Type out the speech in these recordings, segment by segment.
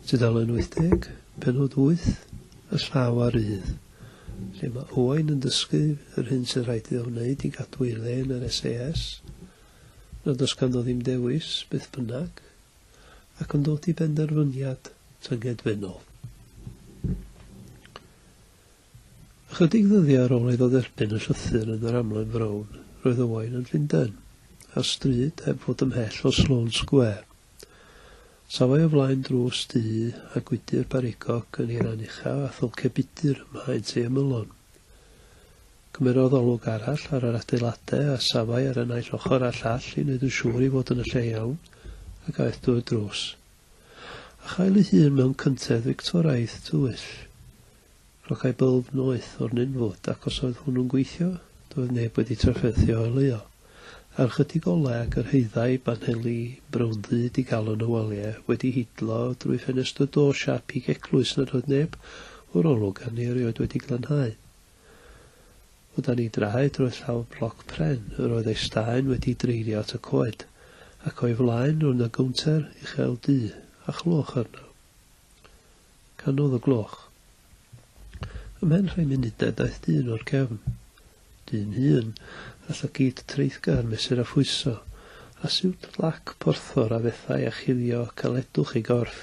Tudalen 80, penod 8, y llaw a rydd, lle mae Owain yn dysgu yr hyn sydd rhaid iddo wneud i gadw ei le yn yr SAS, nad oes ganddo ddim dewis, beth bynnag, ac yn dod i benderfyniad tyngedfennol. Ychydig ddyddiau ar ôl iddo dderbyn y llythyr yn yr Amlen Frown, roedd Owain yn Llundain, ar stryd heb fod ymhell o Sloane Square. Safai o flaen drws du a gwydr barigog yn ei ran uchaf a thylce budr ym mhaent ei ymylon. Cymerodd olwg arall ar yr adeiladau a safai ar y naill ochr a'r llall i wneud yn siŵr ei fod yn y lle iawn ac aeth drwy'r drws a chael ei hun mewn cyntedd Fictoraidd tywyll. Rhogâi bylb noeth o'r ninfwd, ac os oedd hwnnw'n gweithio, doedd neb wedi trafferthio o'i le o. Ar ychydig olau a gyrhaeddai banheli brown-ddu digalon y waliau wedi hidlo drwy ffenest y do siâp pig eglwys nad oedd neb o'r olwg arni erioed wedi glanhau. O dan ei draed roedd llawr bloc pren, yr oedd ei staen wedi dreirio at y coed, ac o'i flaen roedd 'na gownter uchel du, a chlywch arno. Canodd y gloch. Ymhen rhai munudau daeth dyn o'r cefn. Dyn hŷn, a llygid treithgar mesur a phwyso, a siwt blac porthor a fethai â chuddio caledwch ei gorff.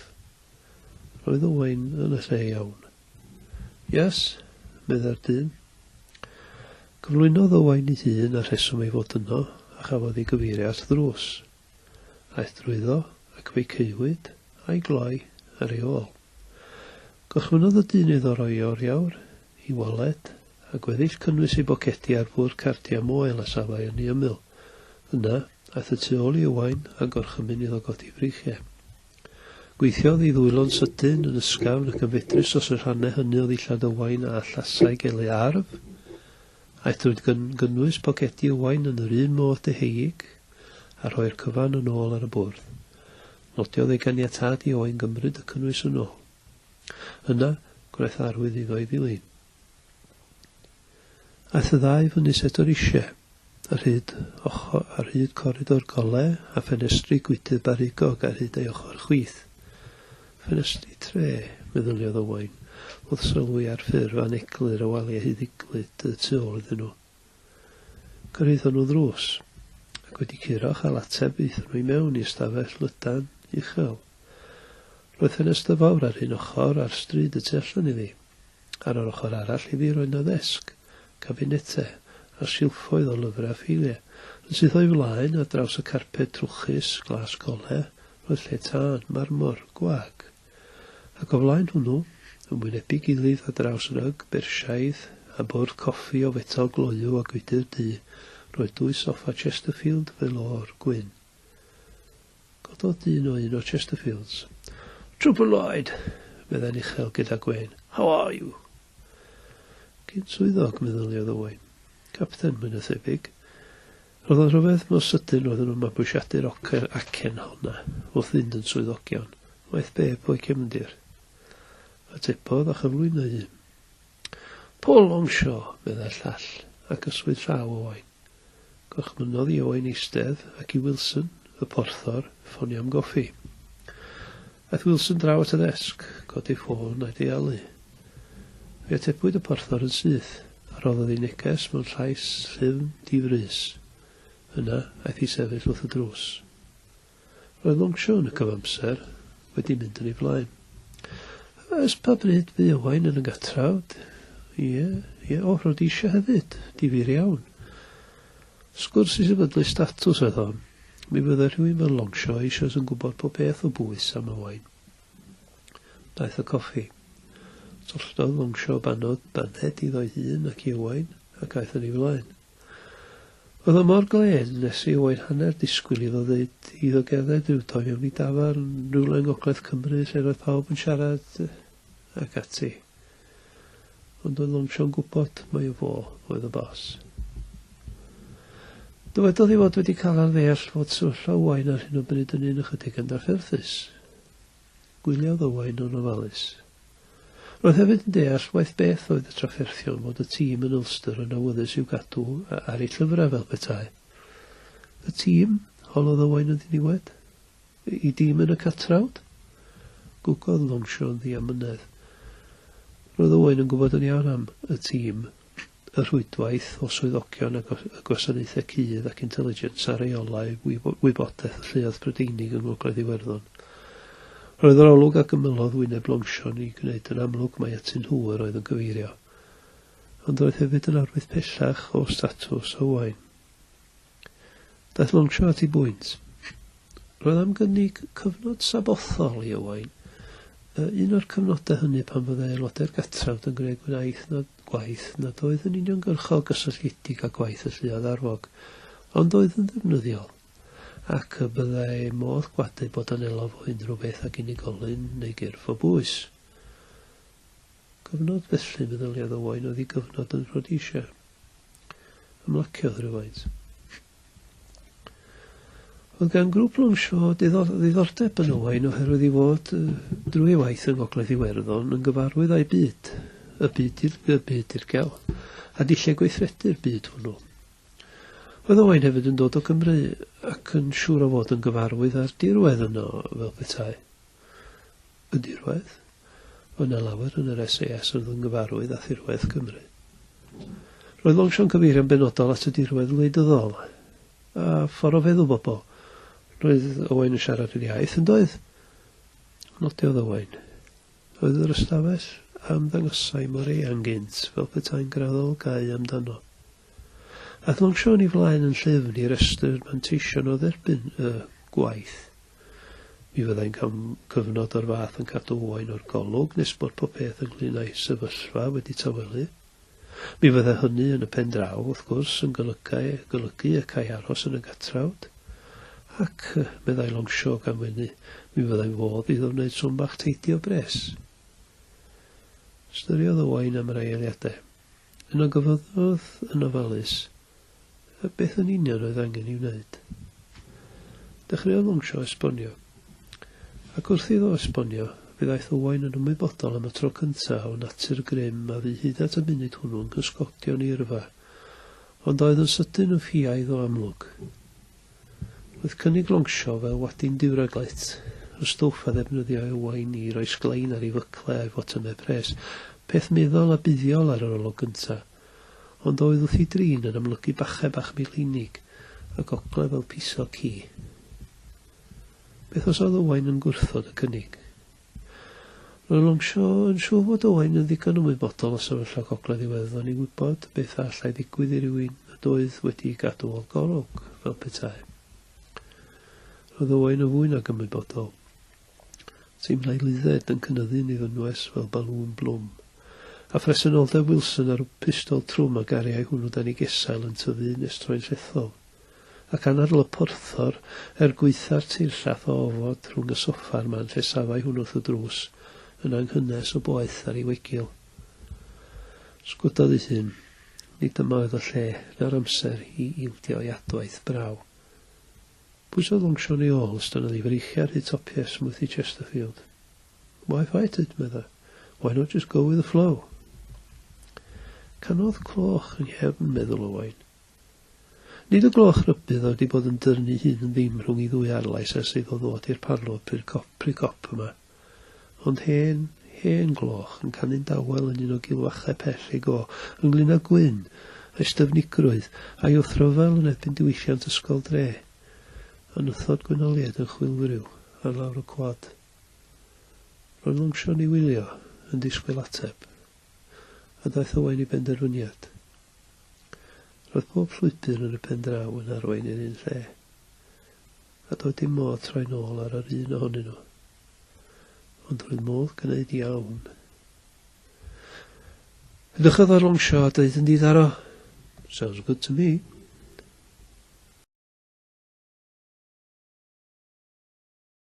Roedd Owain yn y lle iawn. Yes? meddai'r dyn. Cyflwynodd Owain ei hun a rheswm ei fod yno, a chafodd ei gyfeirio at ddrws. Aeth drwyddo ac fe'i caewyd, a'i gloi, ar ei ôl. Gorchmynnodd y dyn iddo roi oriawr, i waled, a gweddill cynnwys ei bocedi ar fwrdd cardiau moel a safai ynni ymyl. Yna, aeth y tu ôl i Owain, a gorchymyn iddo godi freichiau. Gweithiodd ei ddwylo'n sydyn, yn ysgafn ac yn fedrus dros y rhannau hynny o ddillad Owain a allasai gael ei arf, Aethwyd gan gynnwys pocedi Owain yn yr un modd deheuig a rhoi'r cyfan yn ôl ar y bwrdd. Nodiodd ei ganiatâd i Owain gymryd y cynnwys yn ôl. Yna, gwnaeth arwydd iddo ei ddilyn. Aeth y ddau fyny Sedor Ishe, ar hyd ochr, ar hyd coridor gole a ffenestri gwydr barugog ar hyd ei ochr chwith. Ffenestri Tre, meddyliodd Owain, wrth sylwi ar ffurf aneglur y waliau hyd iglyd y tu ôl iddyn nhw. Cyrhaeddon nhw ddrws, ac wedi curo chael ateb aethon nhw i mewn i ystafell lydan uchel. Roedd ffenestr fawr ar un ochr ar stryd y tu allan iddi. Ar yr ochr arall iddi roedd 'na ddesg, cabinete, a silffoedd o lyfrau ffeiliau. Yn syth o'i flaen, ar draws y carped trwchus, glas gole, roedd lle tân, marmor, gwag. Ac o flaen hwnnw, yn wynebu gilydd ar draws ryg, Bersiaidd, a bwrdd coffi o fetel gloyw a gwydr du, roedd dwy soffa Chesterfield, velour, gwyn. Cododd dyn o un o Chesterfields. Trwpl Lloyd! meddai'n uchel gyda gwên. How are you? Cyn swyddog, meddyliodd Owain. Capten, mwy na thebyg. Rhoddodd rhyfedd mor sydyn roedden nhw'n mabwysiadu'r ocr acen honna wrth fynd yn swyddogion. Waeth be, pwy cefndir? Atebodd a chyflwynai un. Paul Longshaw, meddai'r llall, ac y swydd llaw o Oen. Gorchmynnodd i Oen eistedd, ac i Wilson, y porthor, ffonio am goffi. Aeth Wilson draw at y ddesg, codi ffôn a'i dealu. Fe atebwyd y porthor yn syth, a rhoddodd ei neges mewn llais llyfn di-frys. Yna, aeth i sefyll wrth y drws. Roedd Longshaw yn y cyfamser wedi mynd yn ei flaen. Ys pa bryd fu Owain yn y gatrawd? Ie, ie, o, Rhodesia hefyd, difyr iawn. Sgwrs i sefydlu statws oedd hon. Mi fydde rhywun fel Longshaw eisoes yn gwybod pob peth o bwys am Owain. Daeth y coffi. Tolldodd Longshaw banod baned iddo'i hun ac i Owain, ac aeth yn ei flaen. Oedd o mor glên, nes i oed hanner disgwyl iddo ddeud iddo gerdded rhyw dro mewn i dafarn rywle yng ngogledd Cymru lle roedd pawb yn siarad ac ati. Ond oedd Longshaw'n gwybod mai o fo oedd y boss. Dywedodd ei fod wedi cael ar ddeall fod sefyllfa Owain ar hyn o bryd yn un ychydig yn drafferthus. Gwyliodd Owain yn ofalus. Roedd hefyd yn deall waeth beth oedd y trafferthion fod y tîm yn Ulster yn awyddus i'w gadw ar eu llyfrau fel petai. Y tîm? holodd Owain yn ddiniwed. Y dîm yn y catrawd? Gwgodd Longshaw yn ddiamynedd. Roedd Owain yn gwybod yn iawn am y tîm. y rhwydwaith o swyddogion y Gwasanaethau Cudd ac Intelligence a reolau wybodaeth y Lluoedd Prydeinig yng Ngogledd Iwerddon. Roedd yr olwg a gymyllodd wyneb Longshon i gwneud yn amlwg mai atyn nhw yr oedd yn cyfeirio. Ond roedd hefyd yn arwydd pellach o statws Owain. Daeth Longchamp i bwynt. Roedd am gynnig cyfnod sabothol i Owain, un o'r cyfnodau hynny pan fyddai aelodau'r Gatrawd yn gwneud gwaith nad, gwaith nad oedd yn uniongyrchol gysylltiedig â gwaith y lluoedd arfog, ond oedd yn ddefnyddiol, ac y byddai modd gwadu bod yn elof o unrhyw beth ag unigolyn neu gyrff o bwys. Cyfnod felly, meddyliodd Owain, oedd ei gyfnod yn Rhodesia. Ymlaciodd rywfaint. Oedd gan grŵp Longshaw ddiddordeb yn Owain oherwydd ei fod drwy waith yng Ngogledd Iwerddon yn gyfarwydd â'i byd, y byd i'r y byd dirgel, a dulliau gweithredu'r byd hwnnw. Oedd Owain hefyd yn dod o Gymru ac yn siŵr o fod yn gyfarwydd â'r dirwedd yno fel petai. Y dirwedd? Roedd 'na lawer yn yr SAS oedd yn gyfarwydd â thirwedd Cymru. Roedd Longchamp cyfeirio'n benodol at y dirwedd wleidyddol, a ffordd o feddwl bobl. Roedd Owain yn siarad yr iaith, yn doedd? Nodiodd Owain. Oedd yr ystafell a ymddangosai mor eang gynt, fel petai'n graddol gau amdano. Aeth Longchamp yn ei flaen yn llyfn i restru'r manteision o dderbyn y gwaith. Mi fyddai'n cam cyfnod o'r fath yn cadw Owain o'r golwg nes bod popeth ynglŷn â'i sefyllfa wedi tawelu. Mi fyddai hynny yn y pen draw, wrth gwrs, yn golygai, golygu y câi aros yn y gatrawd. Ac, meddai Longshaw gan wenu, mi fyddai'n fodd iddo wneud swm bach teidi o bres. Ystyriodd Owain am yr aeoliadau. Yno gyfyddodd yn ofalus, a beth yn union oedd angen ei wneud. Dechreuodd Longshaw esbonio. Ac wrth iddo esbonio, fe ddaeth Owain yn ymwybodol am y tro cynta' o natur grym a fu hyd at y munud hwnnw yn cysgodion ei yrfa, ond oedd yn sydyn yn ffiaidd o amlwg. Roedd cynnig Longshaw fel wadin diwraglet, y stwff a ddefnyddiai Owain i roi sglein ar ei fycle a'i fotymau pres, peth meddal a buddiol ar yr olwg gynta', ond oedd wrth ei drin yn amlygu bachau bach Milheinig y gogledd fel piso ci. Beth os oedd Owain yn gwrthod y cynnig? Roedd Longshaw yn siŵr fod Owain yn ddigon ymwybodol o sefyllfa gogledd Iwerddon i wybod beth a allai ddigwydd i rywun nad oedd wedi'i gadw o'r golwg, fel petai. Roedd Owain yn fwy nag ymwybodol. Teimlai Lizette yn cynyddu'n ei fynwes fel balŵn blwm. A phresenoldeb Wilson a'r pistol trwm a gariai hwnnw dan ei gesail yn tyfu'n estroi'n llethol. Ac anadl y porthor, er gwaetha'r teirllath o ofod rhwng y soffa a'r man lle safai hwn wrth y drws, yn anghynnes o boeth ar ei wegil. Sgwdodd ei hun. Nid dyma oedd y lle, na'r amser, i ildio i adwaith braw. Pwyso function i ôl stynodd i freichiau rhy topies smwthi Chesterfield. Why fight it, medda. Why not just go with the flow? Canodd cloch yng nghefn, meddwl Owain. Nid y gloch rybudd oedd wedi bod yn dyrnu'i hun yn ddim rhwng ei ddwy arlais ers iddo ddod i'r parlwr pry cop, pry cop yma. Ond hen, hen gloch yn canu'n dawel yn un o gilfachau pell ei go, ynglŷn â Gwyn, a'i styfnigrwydd, a'i wrthryfel yn erbyn diwylliant ysgol dre. Anythod Gwynoliaid yn chwilfriw ar lawr y cwad. Roedd Longshorn i wylio, yn disgwyl ateb. A daeth Owain i benderfyniad. Roedd pob llwybr yn y pen draw yn arwain i'r un lle. a doedd dim modd troi nôl ar yr un ohonyn nhw. Ond roedd modd gwneud iawn. Edrychodd ar longsio a dweud yn ddiddaro, Sounds good to me.